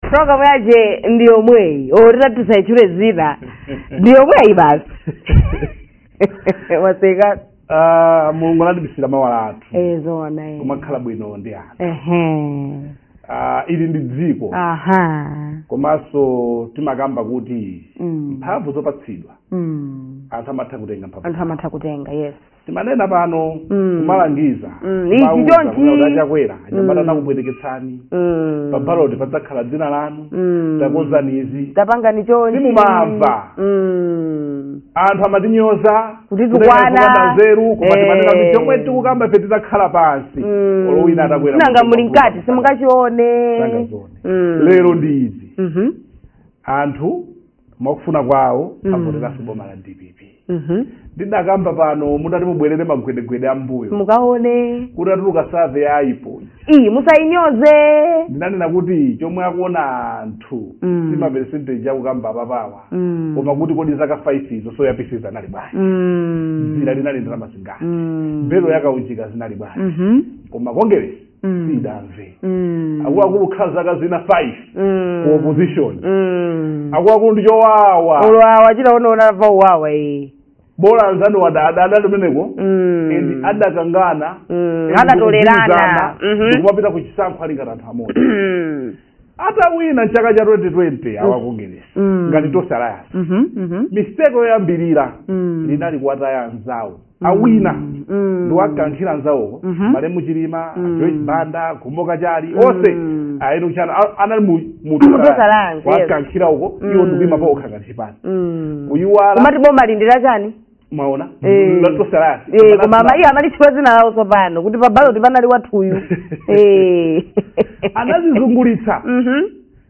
program yache ndi yomweyi olo titati tisaitchule dzina ndi yomweyi basi waseka Ah, mulungu anatibisira mawa lathu zoona eh. kumakhala bwino ndi anthu Ehe. Ah, ili ndi dziko aha komanso timakamba kuti Mm. mphamvu zopatsidwa Mm. anthu amatha kutenga mphamvu anthu amatha kutenga yes timanena pano Mm. kumalangiza Mm, ichi Mawuza chonchi. kunena kuti a Chakwera anyamata Mm. anakupweteketsani Mm. pa baloti padzakhala dzina lanu Mm. takozani izi tapangani chonchi Simumamva. Mm. anthu amatinyoza Kuti kunena tukwana. zopanda nzeru koma Eh. timanena kuti chomwe tikukamba ife titakhala pansi Mm. olo wina atakwera nanga mtengo muli mkati wakuti simungachione Sangazione. Mm. lero ndi izi Mhm. anthu mwakufuna kwawo Mm. avoteranso boma la dpp Mhm. ndidakamba pano mutati mubwerere magwedegwede ambuyo mukaone kutatuluka survey ya IPOR iyi musayinyoze ndinanena kuti chomwe akuona anthu Mm. si maperesenteji akukamba apapawa Mm. koma kuti kodi zaka 5 izo soya pieces anali bwanji Mm. dzira linali ndalama zingati Mm. belo ya kaunjika zinali bwanji Mhm. koma kongeresi Mm. sidamve Mm. akuluakulu khala zaka zina 5 Mm. ku opposition Mm. akuluakulu ndi chowawa olo awa chilaonaona pa uwawa iyi bola anzanuwa adali kumeneko Mm. and adakangana Mm. and Adatolerana. ndikugwirizana, Mhm. ndikumapita ku chisankho ali ngati anthu amodzi Mm. atawina mchaka cha 2020 awakongeresi Mm. ngati tonse alliance Mhm, mhm. mistake yoyambirira Mm. linali kuwataya anzawo awina Mm, mm. ndi kuwakankhira anzawowo Mhm. malemu chilima Mm. joyce banda Khumbo Kachali Mm. onse a Enock Chihana a- anali mu- mu Mu Tonse Alliance, Tonse Alliance, yes. wakankhira uko Mm. iwo ndikuima pa okha ngati chipani Mm. kuyiwala komati bomali ndi la chani mwaona Eh. la Tonse Alliance Eh, koma amayi amalitchula dzina lawo tsopano kuti pa baloti panali wathuyu Eh. anadzizungulitsa Mhm.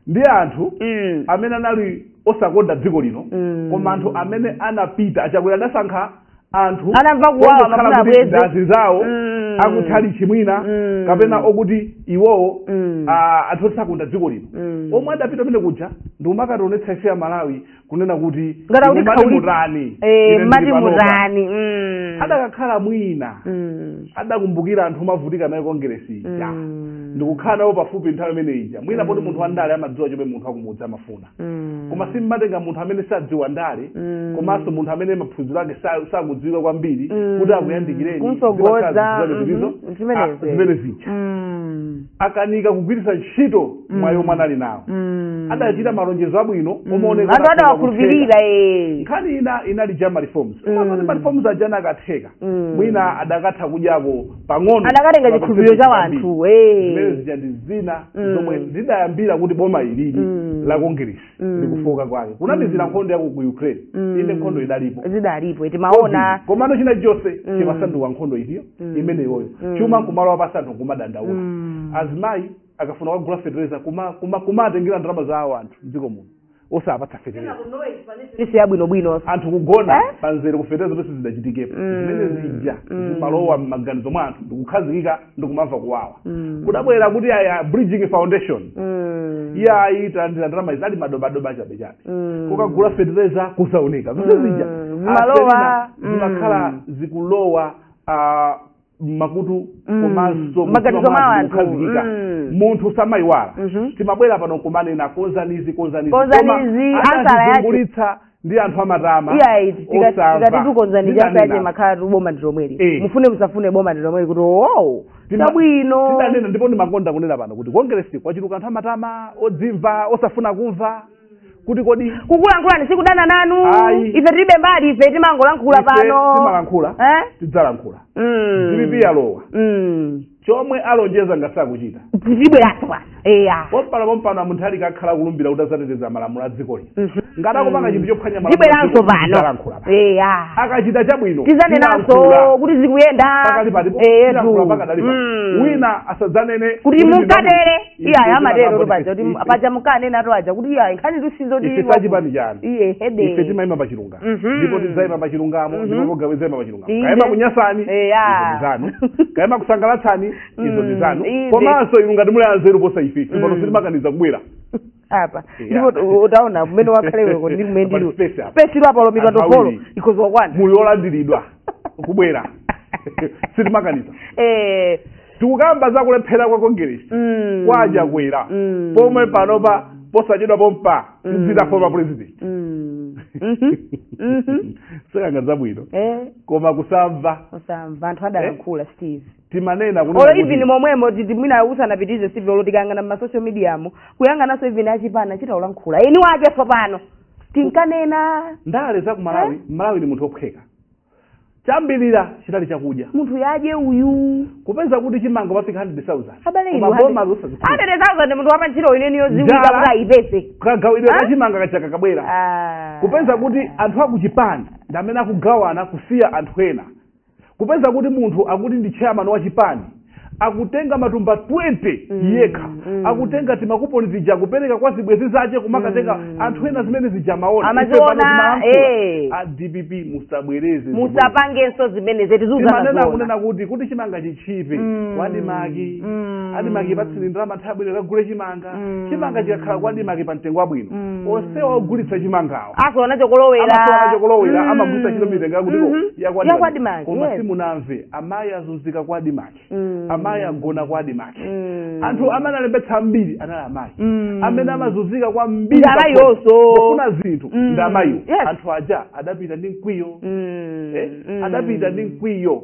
ndi anthu Mm. amene anali osakonda dziko lino Mm. koma anthu amene anapita a Chakwera adasankha anthu Anamva kuwawa, ongokhala amafuna kuti abweze. ndi azinzawo Mm. akutchalitchi mwina Mm. kapena okuti iwowo Mm. ah, anthu oti sakonda dziko lino Mm. omwe adapita kumene kuja ndikumakationetsa ife amalawi kunena kuti Ngati akuti "Mumati khauli- mutani Eh, Ine ndili mati panopa." mutani Mm. adakakhala mwina Mm. adakumbukira anthu omavutika naye kongeresi ija Mm. ndikukhala nawo pafupi nthawi imene ija mwina poti munthu wandale amadziwa chomwe munthu wakumudzi amafuna mm. koma simmatenga munthu amene sadziwa ndale mm. komanso munthu amene maphunziro ake sa- sakudziwika kwambiri Mm. kuti akuyandikireni Kumtsogoza, zimakhala zinthu zake mhm, zizo, zimenezi. ah, zimene zija Mm. akanika kugwiritsa ntchito mwayi omwe anali nawo Mm. adachita malonjezo abwino Mm. omaoneka anthu adawakhulupirira eh. nkhani ina inali ija ma reforms Mm. ma reforms aja anakatheka Mm. mwina adakatha kudyako pang'ono adakatenga chikhulupiriro cha wanthu, eh. zimene zija ndi zina Mm. zomwe zidayambira kuti boma ilili Mm. la kongeresi Mm. ndi kufoka kwake kunamizira nkhondo ya ku ukraine Mm. inde nkhondo idalipo zidalipo timaona komano china chonse Mm. chimasanduka nkhondo iliyo Mm. imeneyoyo Mm. chuma nkumalowa pansi anthu nkumadandaula Mm. azimayi akafuna kugula fetereza kuma- kuma- kumatengera ndalama za awo anthu mdziko muno osawapatsa fetereza isi yabwinobwino anthu kugona Eh? pamzere kufetereza zonse zidachitikapo Mm. zimene zija Mm. zimalowa m'maganizo mwa anthu ndikukhazikika ndikumamva kuwawa Mm. kudabwera kuti a bridgin foundation Mm. iyayi ndalama ali madobadoba chabechabe Mm. kukagula fetereza kusaoneka zonse Mm. zija Zimalowa. zimakhala Mm. zikulowa ah, mmakutu Mm. komanso maganizo mwa anthu. kukhazikika. Mm. munthu samayiwala Mhm. timabwera pano kumanena konzanizi konzanizi Konzanizi, Koma ansala yake. anazungulitsa ndi anthu amatama iyayi osamva. tikati tu konzani izi Nditanena. basi amakhalatu boma ndi lomweli Eh. mufune musafune boma ndi lomweli kuti owo Tima- chabwino tidanena ndipo ndimakonda kunena pano kuti kongeresi kwachuluka anthu amatama odzimva osafuna kumva kuti kodi kukulankhulani sikudana nanu Ayi. ife tilibe mbali ife timangolankhula Ife pano timalankhula. Eh? tidzalankhula Mm. dpp yalowa Mm. chomwe alonjeza ngati sakuchita tibweranso bwana eya pompano pompano a mutharika akhala akulumbira kuti azateteza malamulo a dziko lino Mhm. ngati akupanga chinthu chophwanya malamulo a dziko lino, tibweranso tidzalankhula pano pano. eya akachita chabwino tizanenanso kuti zikuyenda pakati pati Eh, tilankhula tu. pakadali pano. Mm. wina asadzanene kuti munkatere iyayi amatero kuti paja munkanenatu aja kuti iyayi nkhanitu sizo kuti ife sachipani chanu ife timayima pa chilungamo Mhm. ndipo tidzayima pa chilungamo Mhm. ndipo pogamu idzayima pa chilungamo Inde. kaya imakunyansani Eya. izo ndi zanu kaya imakusangalatsani izo ndi Mm, zanu inde. komanso inu ngati muli anzeru posa ife Mm. pano sitimakaniza kubwera apa Yeah. ndipo utaona mmene wakhalira iwe ndi kumene ndili ine space apa. space ili apa olo mipando olo iwiri. ikhoza kukwana muli olandiridwa kubwera sitimakaniza eh tikukamba za kulephera kwa kongeresi mm, kwa achakwera Mm. pomwe panopa posachedwa pompa Mm. azikhala former president mm, mhm, mhm. sinkhani yabwino eh koma kusamva osamva anthu adalankhula steve timanena olo kunena even kuti momwemo mwina usanapitirize steve olo tikayang'ana mma social mediamo kuyang'ananso even achipani achita kulankhula eni ake tsopano tinkanena ndale za ku malawi mmalawi ni munthu ophweka choyambirira chinali chakudya munthu adye uyu kupeza kuti chimanga chafika 100,000 abale inu koma boma losazikhudza hundred thousand munthu wapanjala nchitini neni yoziwika kuti aipezese kagawidwe ka Ah? chimanga kachakakabwera Ah. kupeza kuti anthu akuchipani ndi amene akugawana kusiya anthu ena kupeza kuti munthu akuti ndi chairman wa chipani akutenga matumba 20 mm, yekha mm. akutenga timakuponi zija kupereka kwa zibwezi zace kumakatenga mm. anthu ena zimene zija maona hey. Eh. dpp musabwereze musapangenso zimene timazinena kunena kuti kuti chimanga chitchipe mm. kwaadimaki mm. adimaki patsini ndalama nthawi bwino kagule chimanga Mm. chimanga chikakhala kwadimaki pa mtengo wabwino Mm. onsewa ogulitsa chimangawa asowa nacho kolowera amasowa nacho kolowera Mm. amagulitsa chilo mitengo yakutiko Mhm. yakwadimaki yakwadimaki koma yes. simunamve amayi azunzika kwadimaki Mm. amayi agona kwadimaki Mm. anthu amene alembetsa ambiri anali amayi Mm. amene amazunzika kwambiri Ndi amayi pakhomo, onso. kufuna zinthu Mm. ndi amayiwo Yes. anthu aja adapita ndi mkwiyo Mm. Eh, Mm. adapita ndi mkwiyo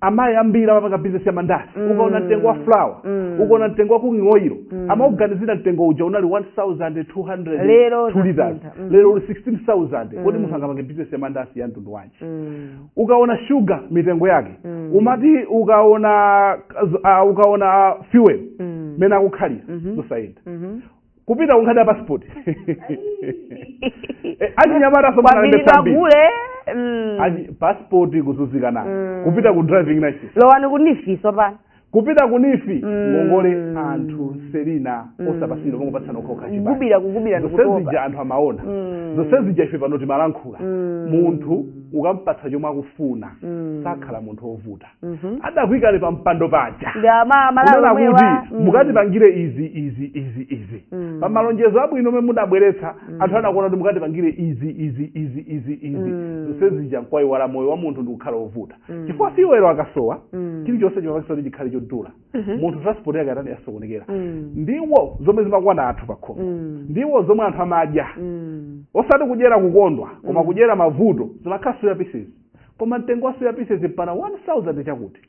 amayi ambiri amapanga bizinesi ya mandasi Mm. ukaona mtengo wa flour Mm. ukaona mtengo wa cooking oil Mm. amaganizira mtengo uja unali 1200 Lero two liters zasintha. Mm. lero uli 16000 kodi Mm. munthu angapange bizinesi ya mandasi ya mtundu wanji Mm. ukaona shuga mitengo yake Mm. umati ukaona uh, ukaona fuel Mm. mmene akukhalira Mhm. zosayenda Mhm. kupita kunkhani ya passport Eh, achinyamata asoma analembe kwambiri sambiri pagule mm. Achi- passport kuzunzika nayo Mm. kupita ku driving license lowani ku NEEF-nso pano kupita ku NEEF Mm. ngongole anthu selina Mm. osapatsidwa kumangopatsana okhaokha chipani kugubira kugubira zonsezija ndikutopa anthu amaona Mm. zonsezija ife pano timalankhula Mm. munthu ukampatsa chomwe akufuna Mm. sakhala munthu wovuta Mhm. adakuikani pa mpando paja ndi ama- amalawi kunena omwewa kuti mm. mukatipangire izi izi izi izi Mm. pa malonjezo abwino omwe mudabweretsa anthu anakuona kuti mukatipangire izi izi izi izi izi Mm. zonse zija nkwaiwala moyo wa munthu ndikukhala wovuta Mm. chifukwa fuel akasowa Mm. chilichonse chimapangitsa kuti chikhale chodula Mhm. munthu transport yake atani yasokonekera Mm. ndiwo zomwe zimakwana anthu pakhomo Mm. ndiwo zomwe anthu amadya Mm. osati kudyera kukondwa koma kudyera mavuto zimakhala soya pieces koma mtengo wa soya pieces mpaka 1000 chakuti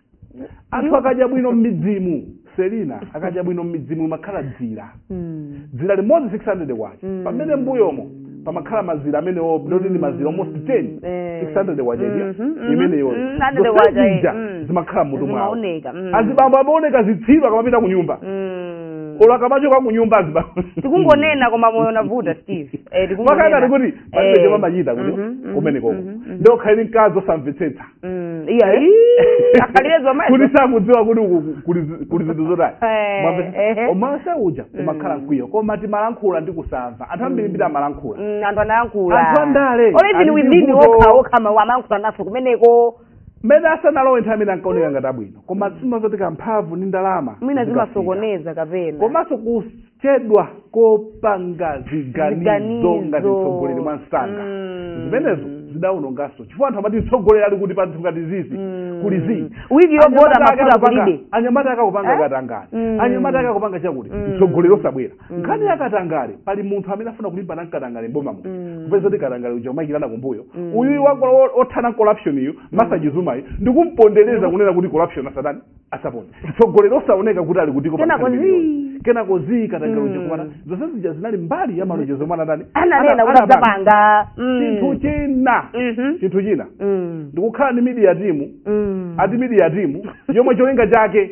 anthu akadya bwino mmidzimu selina akadya bwino mmidzimu imakhala dzira Mm. dzira limodzi 600 kwacha Mm. pamene mbuyomo pamakhala mazira amenewo ndoti ndi mazira almost 10 Eh. 600 kwacha Mhm, idya mhm. imeneyo Mm, 100 kwacha, eh. Mm. zimakhala mmutu mwawo Zimaoneka, mm. azibambo amaoneka zitsiru akamapita ku nyumba Mm. olo akamachoka ku nyumba azibambo tikungonena koma moyo unavuta steve eh, tikungonena. makana kuti palibe Eh. chomwe amachita kuti Mhm, mhm, kumenekoko mhm, mhm. ndiye ukhale ndi mkazi osamvetsetsa Mm, iya ii, akhalire zomwezo kuti sakudziwa kuti uku kuli zi- kuli zinthu zotani Eh, Mwamvetsa? ehe. koma onse uja umakhala mkwiyo koma timalankhula ndi osamva anthu ambirimbiri amalankhula Mm, anthu anayankhula Anthu andale, Or even ali ndi within vuto. wokha wokha mawu amayankhula nafe kumeneko mmene asanalowe nthawi imene ankaoneka ngati abwino koma si mumadziwa kuti mphamvu ndi ndalama mwina zikafunika. zimasokoneza kapena komanso kus- kuchedwa kopanga ziganizo Ziganizo. ngati mtsogoleri mwa msanga Mm. zimenezo zidawononganso chifukwa anthu amati mtsogoleri ali kuti panthu ngati zizi Mm. kuli zii Wiki yovota Anyamata ake mafuta akupanga- kulibe. anyamata ake akupanga Eh? katangale Mm. anyamata ake akupanga chakuti Mm. mtsogoleri osabwera Mm. nkhani ya katangale pali munthu amene afuna kulimbana nkatangale mboma muno Mm. kupeza kuti katangale uja umayikirana kumbuyo Mm. uyuyu wakola othana corruption yu Martha Chizuma ayi ndikumpondereza kunena kuti corruption asatani asapone mtsogoleri osaoneka kuti ali kutiko pa Kenako nkhani zii. imeneyo. kenako zii katangale Mm. uja kumana zonse zija zinali mbali ya malonjezo omwe anatani ananena Ana- kuti anapanga. adzapanga Mm. chinthu china Mhm. chinthu china Mm. ndikukhala ndi media timu Mm. ati media timu yomwe cholinga chake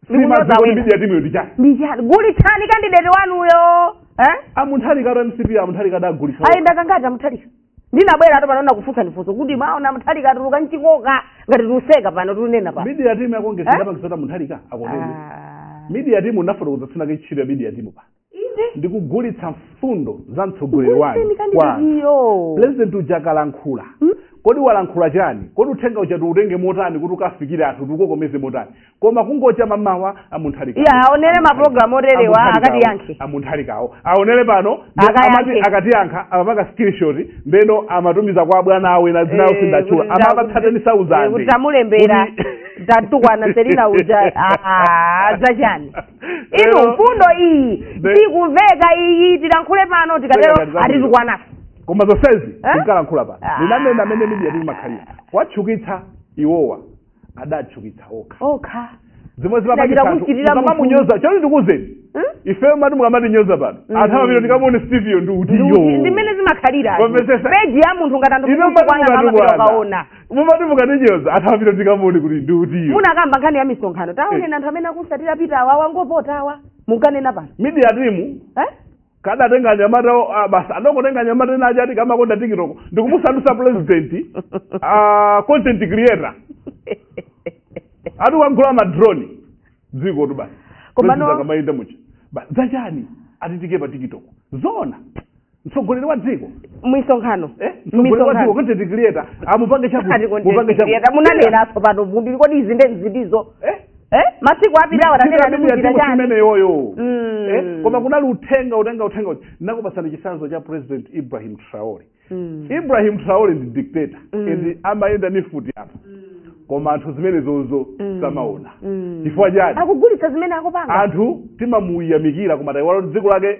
Ndikunyoza simadziwa kuti wina. media timuyo ndi chake ndi chani gulitsani kandideti wanuyo eh? a Munthali ka wa mcp a Munthali kadagulitsa ayenda kangati a Munthali ka ndinabwera ato pano kufunsa ndifunso kuti mwaona Munthali ka atuluka mchikoka ngati tiuseka pano tiunena pano media team yako ngesi Eh? ndapangisa Munthali ka akonene Ah. media team unafotokoza tsiku linake ntchito ya media team pano Inde. ndikugulitsa mfundo za mtsogoleri Kugulitsa wanu kandideti kwa anthu. iyo. president uja akalankhula Hmm? kodi walankhula chani kodi uthenga uja tiutenge motani kuti ukafikire anthu tikukokomeze motani koma kungocha mmawa a Munthali ka Iya, aonere ma program oterewa, akatiyankhe. a Munthali kawo aonere pano ndi Akayankhe. amati akatiyankha amapanga screenshot ndeno amatumiza kwa abwana awo ena mainawo Eh, sindatchula kuti nda- amapatsa teni kuti- sauzande eh, kuti tamulembera tatukwana selina uja Ah, zachani inu mfundo iyi Be- sikumveka iyi tilankhule pano tikatero Zachani, zachani. atitukwana ife koma zonsezi Eh? tinkalankhula pano Ah. ndinanena mmene midiya timu imakhalira watchukitsa iwowa adatchukitsa okha okha zomwe Ndachita kuchitira munthu. zimamunyoza choti ndikuuzeni Hmm? ifeyo mati mukamatinyoza pano Mm. anthu amapita ndikamuone stiviyo ndi Ndi kuti utiyo ndimene zimakhalira Wamvetsetsa? peji ya munthu ngati anthu inu mwatitukwana amapita ukaona mukatukwana mumati mukatinyoza anthu amapita ndikamuone kuti ndi utiyo munakamba nkhani ya misonkhano taonani anthu amene akumutsatira pita awa wangovota awa munkanena pano midiya timu eh? kadatenga anyamata o- a- basi adangotenga anyamata ena aja ati kamakonda tikitoko ndikumusandusa president ah, content creator ati wagula madrone dziko tu basi Koma President no- akamayenda muja Ba- zachani atitike pa tikitoko zona mtsogoleri wa dziko misonkhano eh? mtsogoleri wa dziko content creator amupange chakuti mupange chakuti munanena nso pano munthu kodi izi nde nzitizo eh? eh masiku apitawo tanena ndi kuchita chani imeneyoyo Mm. Eh, koma kunali uthenga utenga uthenga uti nakupatsani chitsanzo cha president ibrahim traore Mm. ibrahim traore ndi dictator Mm. and amayenda ndi mfuti apa koma anthu zimenezozo Mm. samaona Mm. chifukwa chani akugulitsa zimene akupanga anthu timamuyamikira koma taiwala kuti dziko lake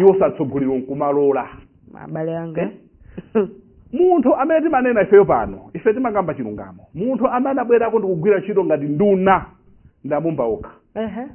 iwo satsogolero nkumalola abale anga munthu amene timanena ifeyo pano ife timakamba chilungamo munthu amene anabwerako ndikugwira ntchito ngati nduna ndamumba okha Ehe.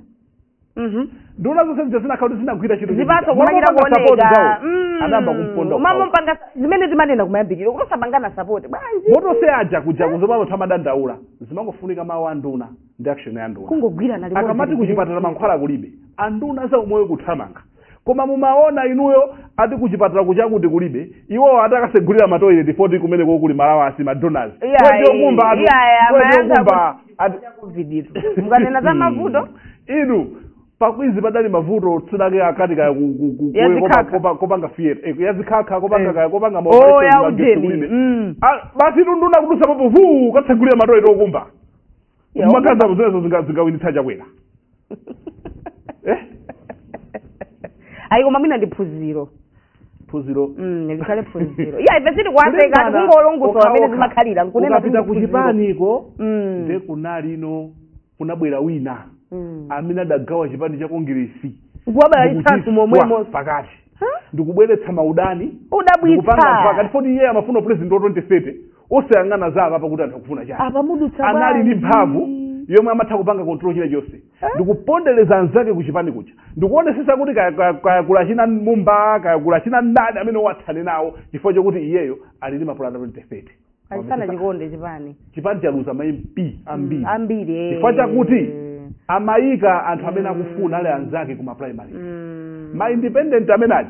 Mhm. nduna zonse zija zinakhala kuti zinagwira ntchito zipatso kumachita kuoneka Mm. anayamba kumponda umamumpanga zimene timanena kumayambiriro kumasapangana sapoti bwanji moto se aja kuja kuzomwe amathu amadandaula zimangofunika mawu a nduna ndi action ya nduna kungogwirana limodzi akamati ligwire kuchipatala ntchito. mankhwala kulibe anduna za umoyo kuthamanga koma mumaona inuyo ati kuchipatala kuchakuti kulibe iwowo ati akasegulira matoilet foti kumene kokuli malawi osati madonors Iya, kwechokumba atu iya, kwechokumba ati kuviditu mukanena za mavuto inu pakwizi padali mavuto tsiku linalake akati kaya ku- ku- ku- Ya kuwe- kopa- zikhakha. kopa- kopanga theatre eh, yazikhakha kopanga Eh. kaya kopanga ma Oh, operation ya magesi ujeni. kulibe. Mm. Ah, basi nduna kudusa papo vuu kukatsegulira matoilet okumba Yo. mukaziona zimenezo zinga- zingawinitsa chakwera eh? ayi koma mwina ndi phunziro phunziro Mm, likhale phunziro iya ife sitikuwaseka Kulimbana tikungolongosola okha mmene okha. zimakhalira nkunena kuti ukapita ndi ku phunziro. kuchipaniko Mm. nde kuchipaniko kunabwera wina Mm. amene adagawa chipani cha kongeresi kuwabalalitsanso ndikuchiswa momwemo pakati Huh? ndikubweretsa maudani odabwitsa ndikupanga pakati foti iye amafuna president wa 2030 osayang'ana za apapa kuti anthu akufuna chani apa mudutsa anali ndi bwanji? mphamvu yomwe amatha kupanga control china chilichonse ndikupondereza anzake kuchipani kuja ndikuonesesa kuti kaya- kaya- kayankhula china mumba kayankhula china mdani amene tithane nawo chifukwa chokuti iyeyo ali ndi mapulani 2030 achisana chikonde chipani chipani chaluza ma mp ambiri ambiri eh. chifukwa chakuti amayika anthu amene akufuna ali anzake ku maprimary Mm. ma independent amene aja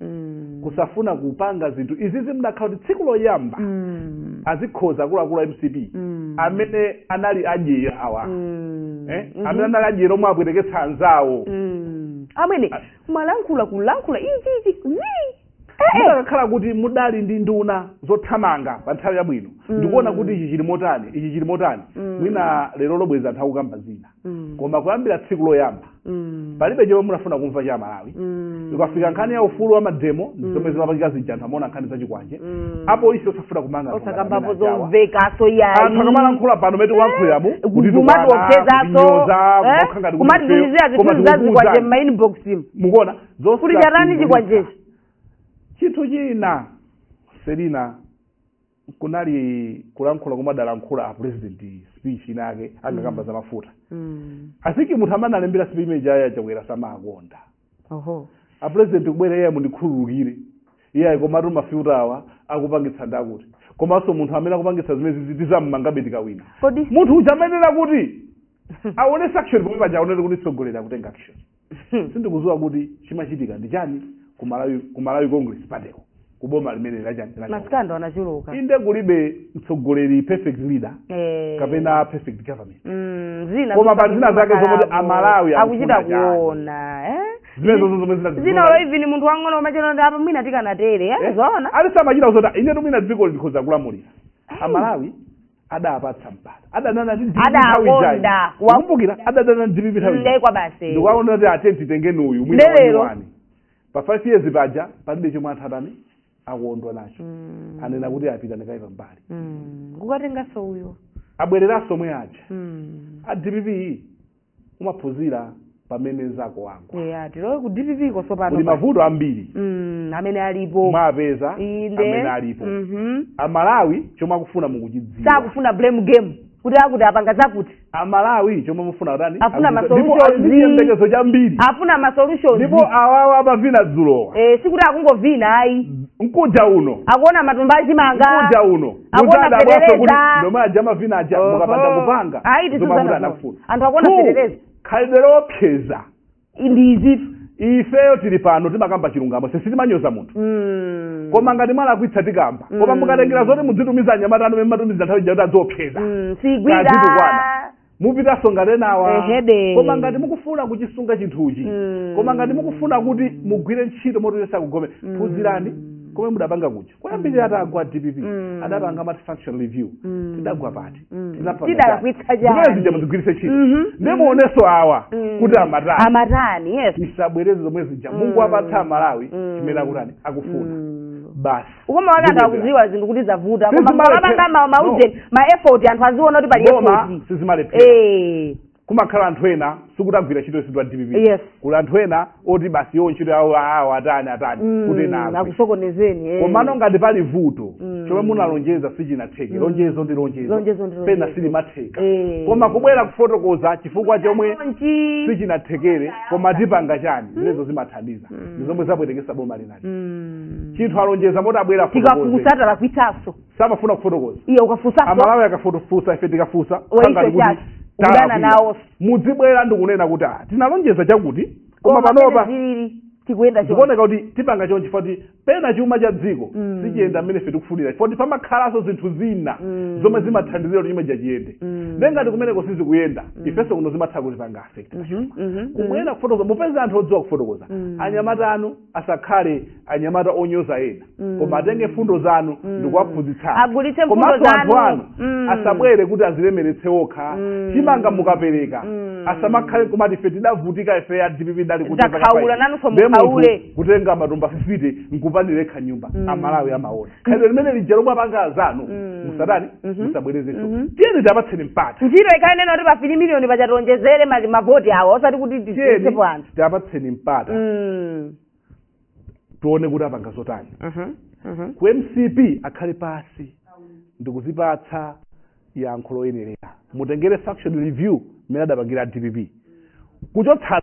mm. kusafuna kupanga zinthu izizi mudakakhala kuti tsiku loyamba mm. azikonza akuluakulu a mcp mm. amene anali adyera awa mm. eh? mm -hmm. amene anali adyera omwe apweteketsa anzawo mm. amene kumalankhula kulankhula izizi zii mudakakhala kuti mudali ndi nduna zothamanga pa nthawi yabwino ndikuona kuti ichi chili motani ichi chili motani mwina lerolo bwezi anthu akukamba zina Mm. koma kuyambira tsiku loyamba Mm. palibe chomwe munafuna kumva cha amalawi Mm. ikafika nkhani ya ufulu wa mademo ndi zomwe zimapangika zija anthu amaona nkhani zachikwanje Mm. apolisi osafuna kumanga anthu ngati osakambapo amene ajawa. zomvekaso yayi anthu akamalankhula pano mmene tikulankhuliramu kumati ophezaso kumatitumizira zithunzi zazikwanje mmainbox mu mukuona kuti chatani chikwanjechi chinthu china selina kunali kulankhula komwe adalankhula a president speech ina yake akukamba za mafuta Mm. i think munthu amene analembera speech imene ija ya chakwera samawakonda Oho. a president kubwera iye mundikhululukire iye komatu mafuta awa akupangitsa ndakuti komanso munthu amene akupangitsa zimenezizi tizammangabe tikawina Kodi munthu uja amayenera kuti aonetse action pomwe paja aonetse kutitsogolera kutenga action sindikuziwa kuti chimachitika ndi chani ku Malawi ku Malawi Congress Party ko ku boma limene la chani la chani. masikandalo anachuluka inde kulibe mtsogoleri perfect leader Eh. kapena perfect government Mm, zina Koma pa zina zake zomwe kuti amalawi akuchita akufuna chani. kuona eh? zimene zonse zomwe zina zina olo even munthu wang'ono umachona ndi apa mwina tikanatere eh? zoona ali samachita kusota ine timwina dziko likhoza kulamulira amalawi adapatsa mpata adanana ndi dpp nthawi ijayi. Adakonda. Wa- kumbukira adadana ndi dpp nthawi ijayi. nde kwa basi ndikuwaona kuti ati titengeni uyu mwina Lero. wani pa five years paja palibe chomwe anthu atani akondwa nacho Mm, anena kuti apite nkaye pambali mm. kukatenganso uyo abwereranso omwe aja Mm, a dpp umaphunzira pamene mzako wagwa eya tilowe ku dpp ko tsopano kuli mavuto ambiri mm, amene alipo mwapeza inde amene alipo Mhm. amalawi chomwe akufuna mukuchidziwa sakufuna blame game kuti akuti apanga zakuti amalawi chomwe afuna kutani Afuna ma Akuchidziwa. ndipo solutions. ali ndi chiyembekezo chambiri afuna ma solutions ndipo awawa amavina dzulowa eh, sikuti akungovina ayi mkuja uno akuona matumba achimanga mkuja uno akuona Muzadabwaso kuti fetereza ndi omwe aja amavina aja Oho. mukapanda kupanga Ayi, tisuzana zomwe kuti zona. anafuna Anthu akuona Two, fetereza. khalidwe lopseza ndizitu ifeyo tili pano timakamba chilungamo si sitimanyoza munthu Mm. koma ngati mwalakwitsa tikamba koma Mm. mukatengera zoti mudzitumiza anyamata anu mmatumiza nthawi ija kuti adziopseza Mm, sigwira Kazitu kwana. mupitanso ngati enawa Ehede. koma ngati mukufuna kuchisunga chinthuchi Mm. koma ngati mukufuna kuti mugwire ntchito moti Yesu akugome Mm. phunzirani komwe mudapanga kuja kuyambirira itagwa dpp Mm. adapanga amati function review Mm. tidagwa pati Mm. Tinapanga Tidalakwitsa chani? chani? Zimene zija muzigwiritse ntchito Mhm. ndiye muonenso awa Mm. kuti amatani amatani yes tisabwereze zomwe zija Mm. mungowapatsa amalawi Mm. chimene akutani akufuna Mm. basi ukoma wake anthu akuziwa zinthu kuti zavuta koma Sizimalephera. mukapanga ma- maujeni ma effort anthu aziona kuti pali ma effort sizimalephera eh kumakhala anthu ena sikuti agwira ntchito yonse ya dpp Yes. kuli anthu ena oti basi iwo ntchito yawo awo atani atani kuti ena agwe. akusokonezeni eh. komano ngati pali vuto chomwe munalonjeza sichinatheke lonjezo ndi lonjezo Lonjezo ndi lonjezo. pena silimatheka Eh. koma kubwera kufotokoza chifukwa chomwe Chonchi. sichinathekere koma tipanga chani zimenezo zimathandiza ndi zomwe zapwetekesa boma lina Mm. chinthu alonjeza mmalo moti abwere afotokoze. tikafusa talakwisaso samafuna kufotokoza iye ukafusaso amalawi akafo tofusa ife tikafusa Wa ife sangati kuti chachi, kudana talakwira. nawo. mudzibwera ndikunena kuti ah, tinalonjeza chakuti koma panopa zilili tikuyenda choncho. zikuoneka kuti tipanga chonchi foti pena chuma cha dziko Mm. sichiyenda mmene ife tikufunira foti pamakhalanso zinthu zina Mm. zomwe zimathandizira kuti chumacho chiyende Mm. nde ngati kumeneko sizikuyenda ifenso kuno zimatha kutipanga affect Mhm, mhm, mhm. kumabwera kufotokoza mupeza anthu odziwa kufotokoza Mm. anyamata anu asakhale anyamata onyoza ena Mm. koma atenge mfundo zanu Mm. ndikuwaphunzitsanso Agulitse mfundo komanso anthu zanu. anu Mm. asabwere kuti azilemeretse okha Mm. chimanga mukapereka Mm. asamakhale kumati ife tidavutika ife a dpp mudali kuti Takhaula, mpaka nanunso payi. Ndiye munthu mukhaule. kutenga matumba 50 nkupangira nokha nyumba Mm. Amalawi amaona khalidwe limene lija lomwe apanga azanu Mm. musatani Mhm. musabwerezenso Mhm. tiyeni tiwapatseni mpata ntchito ikhale nena kuti pa 3 miliyoni paja tiwonjezere mavoti awo osati kuti tiyeni tisepo anthu tiwapatseni mpata Mm. tione kuti apanga zotani Mhm. Mhm. ku mcp akhale pasi ndikuzipatsa yankho loyenerera mutengere functional review mmene adapangira a dpp kuchotsana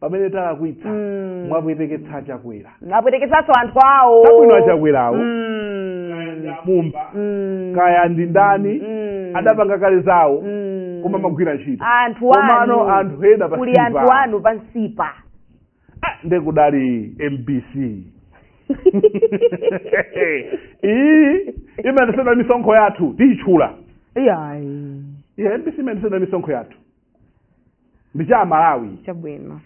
pamene tidalakwitsa Mm. mwapweteketsa achakwera mwapweteketsanso anthu awo Chabwino achakwerawo. Mm. mumba Mm. kaya ndi ndani Mm. adapanga kale zawo Mm. koma amagwira ntchito anthu komano anu anthu ena pa kuli anthu Silver. anu pansipa Ah, nde kudali mbc iyi imayendetsedwa misonkho yathu tiyitchula iyayi yeah, mbc imayendetsedwa misonkho yathu ndi cha Amalawi chabwino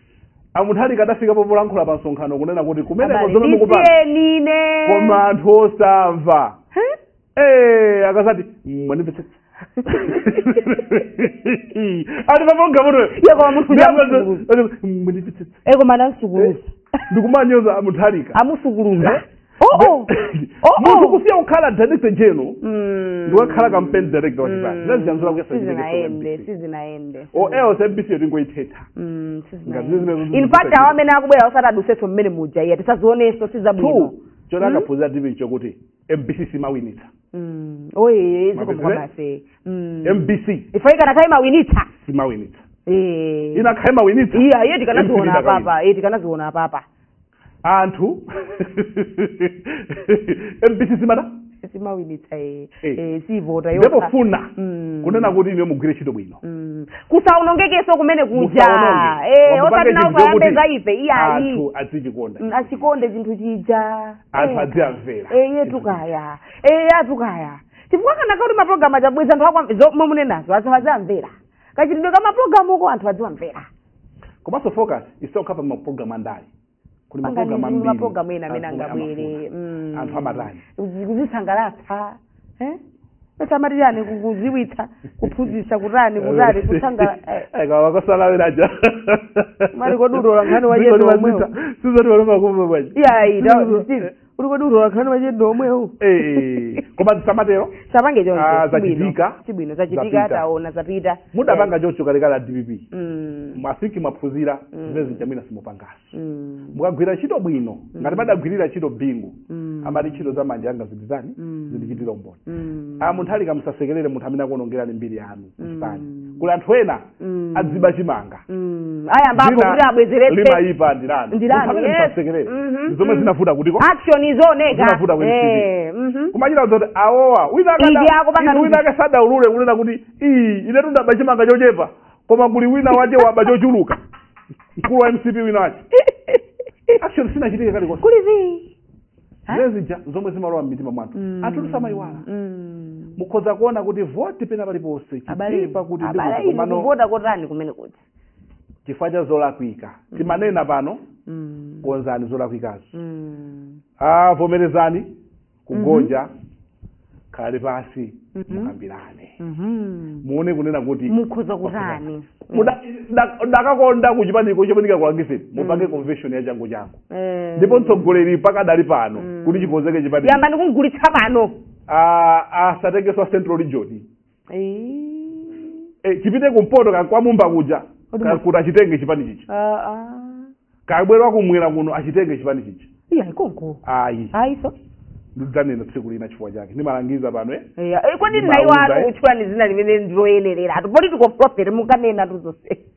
a Mutharika adafika popolankhula pa msonkhano kunena kuti kumeneko Abale, zomwe mukupanga ndisiyenine koma anthu osamva Huh? Eh, akazati mwanipetsa ati pamoga muno Iye koma munthu uja amusukuluza. mwanipetsa Eh, koma adamusukuluza ndikumanyoza a Mutharika amusukuluza Oh, oh. Oh, oh. munthu kusiya kukhala director general Mm. ndikukhala campaign director wa chipani Mm. naziyanzula kuyesa sizinayende sizinayende or else mbc yotingoithetha Mm, sizinayende. Ngati zimene zikuchitika. in fact awo amene akubwera osati adutsenso mmene muja iyayi tisazionenso sizabwino chomwe akaphunzirapo ndi chokuti mbc simawinitsa Mm. oye Mabezere? zikomukwabase mbc ife ikanakhala imawinitsa simawinitsa Eh. ikanakhala imawinitsa iya iye tikanaziona Iye apapa iye tikanaziona apapa anthu mbc simata simawinitsa eh, Eh. eh, sivota yokha. nde pofuna Mm. kunena kuti inu mugwire ntchito bwino Mm. kusaonongekenso kumene kuja Musaononge. Eh, Wamupange osati nawo chinthu chokuti akayambe za ife iyayi anthu adzichikonda Mm, achikonde chinthu chija Anthu Eh, adziyimvera. eh, iye tukaya Eh, iye atukaya chifukwa kana kuti mapulogalamu achabweza anthu akwamve zomwe munenazo aziamvera kachitidwe ka mapulogalamuko anthu adziwamvera komanso focus isakhale pa mapulogalamu andale kuli Pangani mapulogalamu ambiri mapulogalamu ena amene anthu angabwere amafuna. mm. anthu amatani Kuzi- kuzisangalatsa eh? paja amati chani ku- kudziwitsa kuphunzitsa kutani kutani kutsangala eh. kawakosalawiraja Pali kudula nkhani wa jendo omwewo. sizoti waloma kumwe bwaji Yeah, you know, this is- uli kodi utola nkhani machedwe omwewo Eh, koma tisamatero sapange choncho Ah, sibwino. zachitika. sibwino zachitika Zapita. taona zapita mudapanga chocho kalekale a dpp Mm, masiki mwaphunzira Mm. zimene zinchamwina simupangaso mm, mukagwira ntchito bwino ngati madagwirira ntchito bingu mm, amati ntchito za manja anga zindizani Mm. zindichitire umboni mm. a munthu alika musasekerere munthu amene akuonongerani mbiri yanu mchipani Mm. kuli anthu ena Mm. adziba chimanga Mm. ayambapo Dzina kuti abwezeretse limayipa ndilani Ndilani, Musamene yes. musasekerere. Mhm, Ndi zomwe mhm. zinavuta kutiko action iwoneke Zinavuta ku NCD. Eh, mhm. kumachita zoti awowa wina Izi akada- akupanga inu wina nuzi. akasatiulule kunena kuti ii inetu ndaba chimanga chochepa koma kuli wina wache waba chochuluka mkulu wa mcp wina wache action sinachitike kalikonse kuli zii Eh? ndi zija zomwe zimalowa mmitima mwa anthu Mm. anthu samayiwala Mm. mukhoza kuona kuti voti pena paliponse abale chitipa kuti ndi abale kuti inu komano kuvota kotani kumene kuti chifukwa cha zolakwika timanena pano Mm. konzani zolakwikazo Mm. vomerezani kugonja khale pasi Mhm. mukambirane Mhm. muone kunena kuti mukhoza kutani Muda- da- dakakonda kuchipaniko chopanika kuangise mupange convention ya changu changu Eh. ndipo mtsogoleri pakadali pano Mm. kuti chikonzeke chipani yambani kumgulitsa pano asatengeso a central region e, chipite kumpoto ka- kwa mumba kuja Kodi ka- mu- kuti achitenge chipani chichi kabwera kumwera kuno achitenge chipani chichi iya ikonko ayi ayiso ndidzanena tsiku lina chifukwa chake ndimalangiza pano eh? iya Eh, kodi Ndimauza, nayi wanu eh. tchulani dzina limene ndiloyenerera atu political prophet mukanena tuzose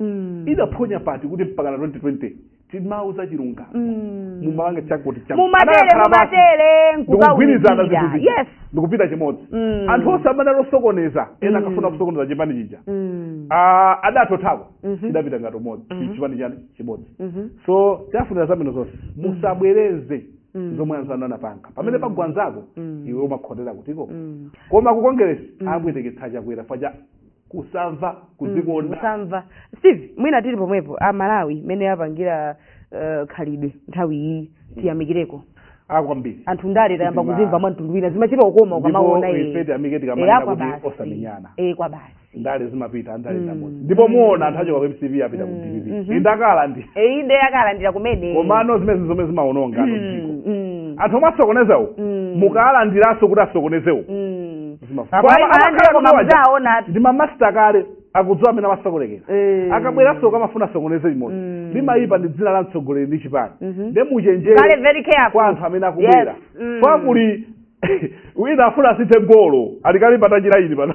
Mm. idaphonya pati kuti mpakana 2020 timauza chilungamo Mm. mumalangiza chakuti chakuti. mumatere Anakakhala basi mumatere ndikugwirizana nkukawunikira zinthu zija yes ndikupita chimodzi Mm. anthu onse amene anali osokoneza ena Mm. akafuna kusokoneza chipani chija Mm. Ah, adatothako Mhm. chidapita ngati umodzi Mhm. chipani chani chimodzi Mhm. so tiafunira zabwino zonse musabwereze Mm. zomwe anzanu anapanga pamene Mm. pagwa nzako Mm. iwe umakhotera kutiko Mm. koma ku kongeresi Mm. abweteketsa chakwera paja kusamva kudzikonda kusamva steve mwina tili pomwepo a malawi mmene apangira uh, khalidwe nthawi iyi tiyamikireko a kwambiri anthu ndale tayamba Sitima- kuzimva mwa mtundu wina zimachita ukoma ukamaona Ndipo iye. ife tiyamike Eh, tikamanena akwa kuti basi. osamenyana. Eh, kwa basi ndale zimapita ndale Mm. ndi amodzi ndipo muona anthu achoka ku mcp apita ku dpp mhm. ikalandi Eh, inde ikalandira kumene komano zimenezi zomwe zimaononga Mm, dziko mm, anthu omwe asokonezawo mm. mukalandiranso kuti asokonezewo mm. zimafuna Apa- Koma apa- alandira amakhala koma kuti waja mudzaona ati. ndi mamasta kale akudziwa amene amasokonekera Eh. akabweranso akamafuna asokoneze limodzi Mm. limayipa ndi dzina la mtsogoleri ndi chipani Mhm. nde Kale muchenjere very careful. kwa anthu amene akubwera Yes. Mm. kwa kuli wina afuna asithe golo alikali patanjira ili pano